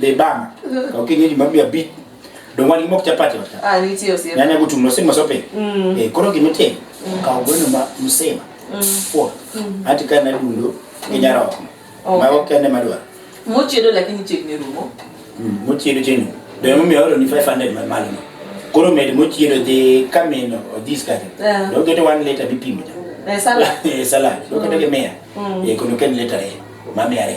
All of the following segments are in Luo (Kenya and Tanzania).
Dhi bang. Ka kinyo juma bi abi. Dong wan mok chapati wata. Ah, nitie osiep. Nyanya go tum no sin masope. Mm. Eh, koro gima tim. Mm. Ka ogweno ma msema. Mm. Fo. Mm. Ati ka na dundo mm. nyara oko. Okay. Ma ok kende madwa. Mochiedo lakini chiegni rumo. Mm, mochiedo chenu. Dong mo mi oro ni 500 ma malo. Koro med mochiedo dhi kamino odhis kare. Yeah. Dong kete one liter bipimo. Eh, salad. Eh, salad. Dong kete mm. kemea. Mm. Eh, kono ken liter. Eh. Mami are.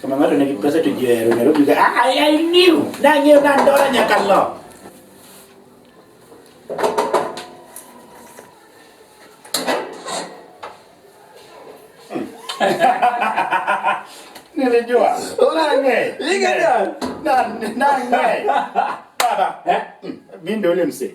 Kama ng'ato nigi pesa to ji ohero Nairobi ka "Ah, I, I knew nang'eyo ni andora nyaka lo. Nilijua. Nang'e. Ningejua. Na- nang'e. Baba, eh? Mimi ndio ule msee.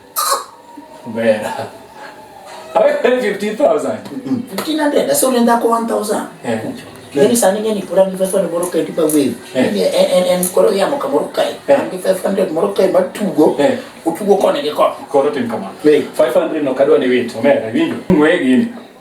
Mbera. Awe 15,000. 1500 asi unoenda ko 1000 Yeni sani ngeni pura ni 500 moro kai tipa wave. Ni en en koro ya moka moro kai. Ni 500 moro kai matugo. Utugo kone ke ko. Koro tim kama. 500 no kadwa ni wit. Omera winjo. Ngwe gini.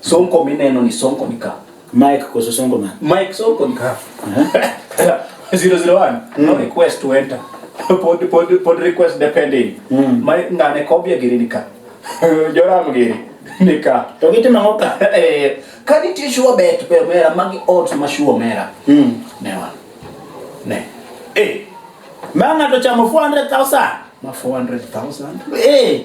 Sonko mineno ni Sonko ni ka. Mike koso Sonko man. Mike Sonko ni ka. 001. Mm. No request to enter. pod pod pod request depending. Mm. My ngane kobia giri ni ka. Joram giri ni ka. To gitimo ang'o ka? Eh, ka nitie sure bet be mera magi odds ma sure mera. Mm. Ne wan. Ne. Eh. Ma ng'ato chamo 400,000. Ma 400,000. Eh.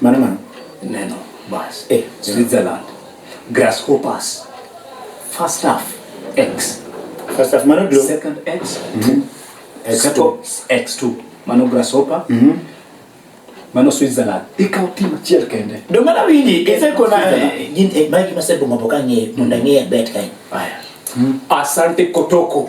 Mano mano. Neno bas. Eh, Switzerland. Grasshoppers. First half X. First half mano dlo. Second X. Mm -hmm. X2. X2. Mano grasshopper. Mm -hmm. Mano Switzerland. Ikaw team achiel kende. Do mana wingi ise kona gin eh, magi masebo maboka ngi munda ngi bet kai. Aya. Mm. Asante Kotoko.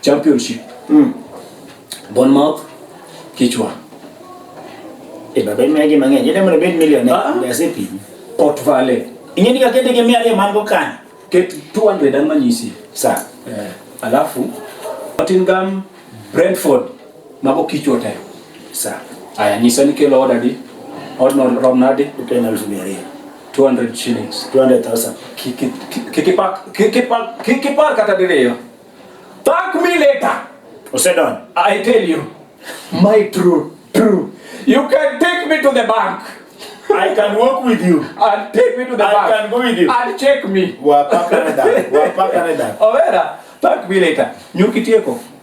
championship mm. Bournemouth kichwa e baba imegi mang'eny ene mondo bed million ah. e asepi Port Vale ing'e ni kakete gi mia ariyo man go kan ket 200 an manyisi sa eh. alafu Nottingham Brentford Mago kichwa tayo. Sawa. Aya, nyisa ni kelo oda di. Odno rom nadi? Uten elfu mia ariyo. 200 shillings. 200,000. Kikipak, kikipak, kikipak kata diriyo. Thank me later. Osedon. I tell you. My true, true. You can take me to the bank. I can walk with you. And take me to the I bank. I can go with you. And check me. Wapa Canada. Wapa Canada. Overa, thank me later. Nyuki tieko.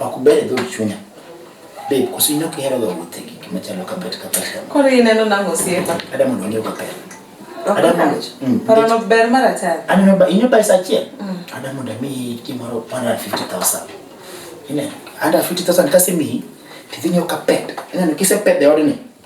Ok ber dho chunya. Babe, koso in ok ihero ga wuothe gi gima chalo kapet kapet kama. Koro ineno nang'o osiepa? Ada mondo ang'ew kapet. Ok Ada mondo- rach. Mm. Paro no ber mar achari. Aneno ba inyo pesa achiel. Ada mondo amiyi gimoro 150,000. Ineno? Ada 50,000 kasemiyi, tidhi nyiewo kapet. Ineno kisepedho e odni.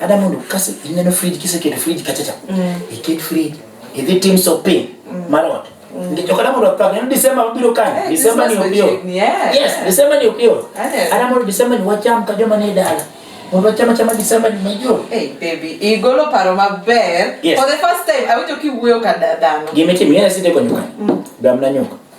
Ada mondo kase ineno fridge kiseketo fridge kacha cha. Mm. Iket fridge. Idhi tim shopping. Mm. Marot. Mm. Ndio kada mondo apaka neno December mabiro kan. Eh, December ni opio. Yes, December ni opio. Eh. Ada mondo December ni wacham ka joma ni dala. Mondo chama chama December ni major. Hey baby, igolo paro maber. Yes. For the first time, awinjo kiwuoyo ka dadano. Gimiti mimi na sinde kwa nyuka. Mm. Damna nyuka.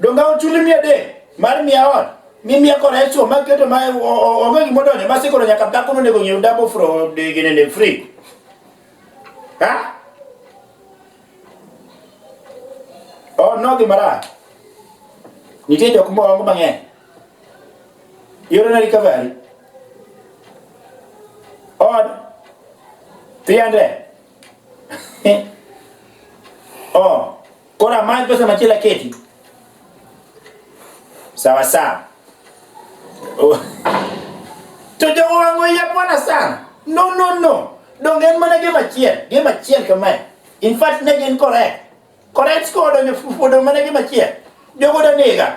Donga ochuli mia adek mar mia ot ni mia kora esuo ma keto ma onge gima odonjo ma sikoro nyaka dhako no nego nyiew dabo fro gine ne free. Ha? Oh no gi mara. Nitie jok mo ongo mang'eny. Yoro na recovery. On 300 Eh. Oh, kora mali pesa na kila kitu. Sawa sawa. Oh. Tujo wangu ya bwana sana. No no no. Dongen mana ge machiel, ge machiel kamae. In fact ne gen correct. Correct score donyo fudo mana ge machiel. Jogo da nega.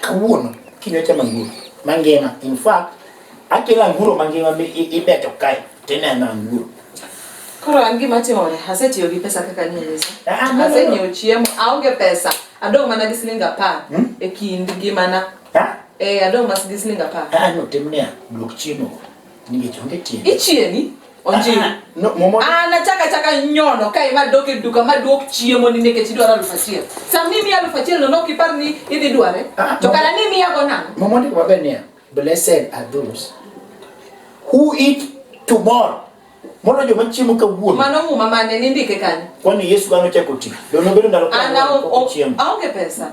Kawuono kiny ochamo anguro mangima. In fact, akelo anguro mangima mi i- ibeto kae tineno anguro. Koro an gima timore, asetiyo gi pesa kaka ni Yesu. Ah, no, no, no. Asenyiewo chiemo, aonge pesa. Adong' mana gi siling apar Hmm? e kind ngimana. Ha? Eh, adong' mas gi siling apar. Ah, no, tim niya, duok chiemo. Ningechonge tiende. Ichieni? Onjiri. Ah, no, momo. Ah, nataka taka nyono kai ma doke duka ma duok chiemo ni nekech idwaro aluf achiel. Sa mimi aluf achiel no nok ipar ni idhi dware. Ah, to kana ni miya go nang'o? Momo ndiko maber niya. Blessed are those who eat tomorrow. Mono joma chiemo kawuono. Mano muma mane nindike kanyo? Kwani Yesu kano chako ti. Dono bedo ndalo kawuono. Ana onge pesa.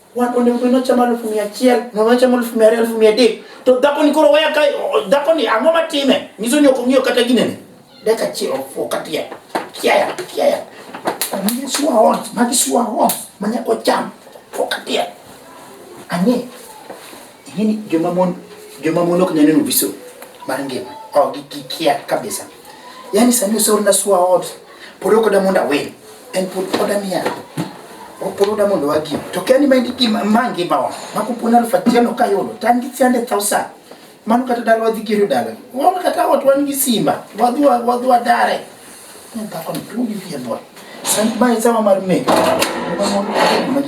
Wan onego bed nochamo alufu mia achiel, nochamo alufu mia ariyo, alufu mia adek. To dhako ni koro waya ka dhako ni ang'o matime? Nyiso ni ok ong'iyo kata ginene. Dakika achiel ofuok atia. Kiaya, kiaya. Magi sua hon, magi sua hon, manyako cham. Fuok atia. Ang'e. Yaani joma mon joma mon ok neno viso mar ngima. Oh, gikia kabisa. Yaani sani usoro na swa ot. Pod ok da mondo awe. En pod oda miya. Pod oda mondo wagi. To kani mendi ki mangi bawa. Makupona alfa tiano kayolo. Tangi tiande thousand. Mano kata dala wadhi gero dala. Wan kata ot wan gi simba. Wadhi wadhi wadare. Nenda kwa mtungi vya bwana. Sani bae sawa marme. Mama mwana kwa mwana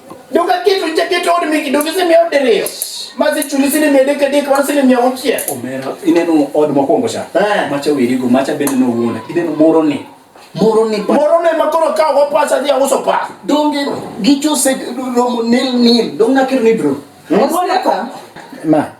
Dokaketo ichaketo od miki dogi simi od diriyo. Mazi chuli sini mede kadek wan sini mia ochie. Omera ineno od mokwongo cha. Eh. Macha wirigo macha bende no wuonda. Ineno moro ni. Moro ni ba. Moro ne makoro ka go pasa dia uso pa. Donge gicho se romo nil nil. Donge nakir ni bro. Mwana ka. Ma.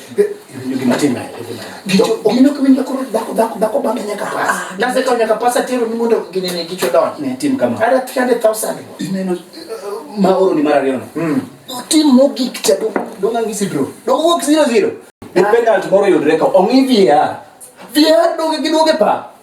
Iwinjo gima timre e ngima dhako. Gicho Ineno ok winjo koro dhako dhako dhako bambe nyaka pas. Ah, Nase kawo nyaka pasa tero ni mondo ginene gicho donj. ne tim kama. Ada 300,000. Ineno uh, ma oro ni mar ariyo no. Mm. Tim mogik cha dong dong angi sidro. Dong wuok zero zero. Ni penalty moro yudre ka ong'i VAR. VAR doge gi doge pa.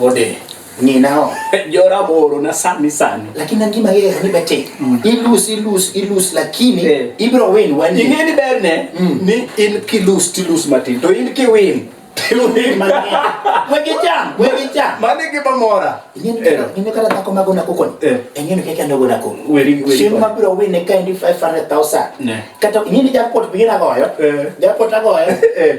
Ode ni nao jora boro na sani sani lakini angima yeye ni bete mm. ilus ilus ilus lakini yeah. ibro win wani ing'e ni ber ne mm. ni in kilus tilus matin to in kiwin manigimamora ing'e kata dhako magona kokoni eh. eng'eni keke andogona ko chieng' mabiro wine ka endi 500000 kata ing'e ni jakpot bigina goyo eh. jakpot agoyo eh.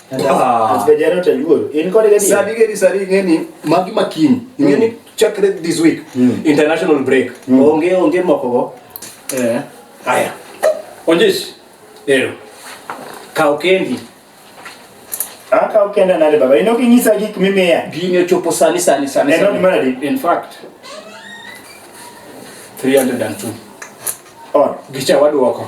Ah. Sadi gedi sadi ngeni magi makini. Hmm. Ngeni chakre this week. Hmm. International break. Hmm. Onge onge moko go. Eh. Aya. Onjes. Ero. Kao kendi. Aka ah, ukenda nale baba. Ino kinyisa gik mimea. Ginyo chopo sani sani sani. Eno ni maradi. In fact. 302. On. Gicha waduoko.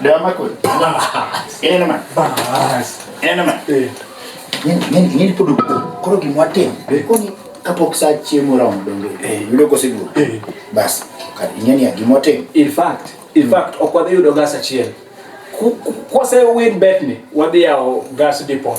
Dama kweli. Ina na maana. Bas. Ina na maana. Eh. Nini nini podo koro kimwatem. Eh. Koni kapok sa chiemo romo donge. Eh. Yudo koseduo. Eh. Bas. Kar inyani agimwatem. In fact, in fact okwadhi yudo gas achiel. Kwase win bet ni wadhi yawo gas depot.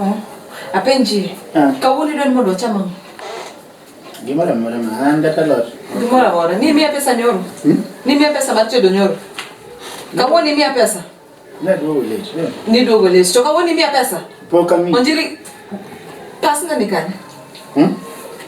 Oh, apenji ah. kawuono idwani mondo wacham ang'o gimoro amora ma an kata lot gimoro amora ni miya pesa nyoro hmm? ni miya pesa mar tedo nyoro kawuono imiya pesa naduogo late eh. niduogo late to kawuono imiya pesa pok ami onjiri pasna ni kanye hmm?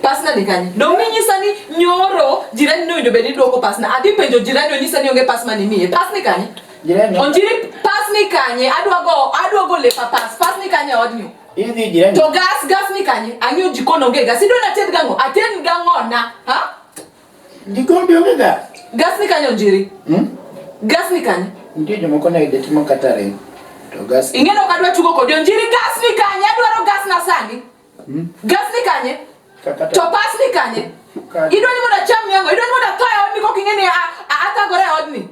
pasna ni kanye dong ninyisa ni nyoro jirani ne owinjo bed ni duoko pasna adhi penjo jirani onyisa ni onge pas mane imiye pas ni kanye Jirani. Onjiri pass ni kanye? Adwa go, adwa go lepa pass. Pass ni kanye odnyu. Idhi jirani. To gas gas ni kanye? Anyo jikon onge gas. Idwa na ted gango. Aten gango na. Ha? Jikon bi onge gas. Gas ni kanye onjiri? Hmm? Gas ni kanye? Nitie jomoko na ide timo katare. To gas. Ingeno kadwa tugo kodi onjiri gas ni kanye? Adwaro gas na sani. Hmm? Gas ni kanye? To pas ni kanye? Idwa ni mondo acham nyango, idwa ni mondo atho e odni kok ing'e ni athagore e odni.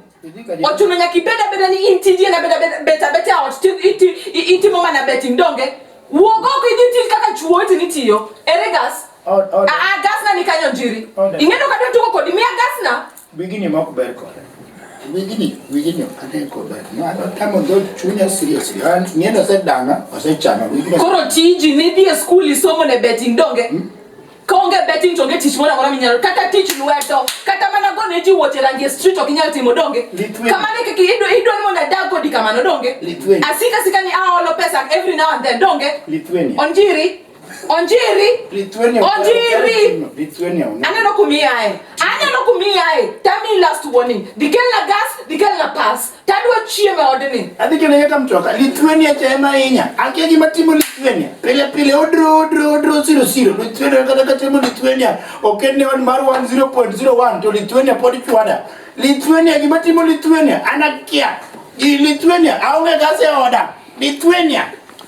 Ochuno nyaka ibed abeda ni in tiji en abeda bet abet e ot itimo mana betting donge. Wuog oko idhi tij kaka chuo iti nitiyo. Ere gas? Aa ah, ah, gas na ni kanyo njiri. Ing'e no kadwa tugo kodi miya gas na. Wigini ma ok ber kode. Wigini, wigini ok ane kober. Mano tamo dho chunya seriously. An ng'endo osedanga, osechama wigini. Koro tiji ni dhi e skul isomo ne betting donge? Hmm? Ka onge betting to onge tich moro amora minyalo kata tich lwedo kata mana go ne ji wuoche rangi e street ok inyal timo donge? Kamano e kaka idwa idwa ni mondo adag kodi kamano donge? Asika sika ni aolo pesa every now and then donge? Onjiri. Onjiri. Lithuania. Onjiri. Lithuania. Aneno kumiyae. Aneno kumiyae. Tell me last warning. Dikel na gas, dikel na pass. Tadwa chiemo e odni. Adhi kene yeta mtoka. Lithuania cha ema inya. Akia gima timo Lithuania. Pile pile odro odro odro siro siro. Lithuania kata kata timo Lithuania. Okende wan mar 1.01 to Lithuania podi chwada. Lithuania gima timo Lithuania. Anakia. Lithuania aonge gas e oda. Lithuania.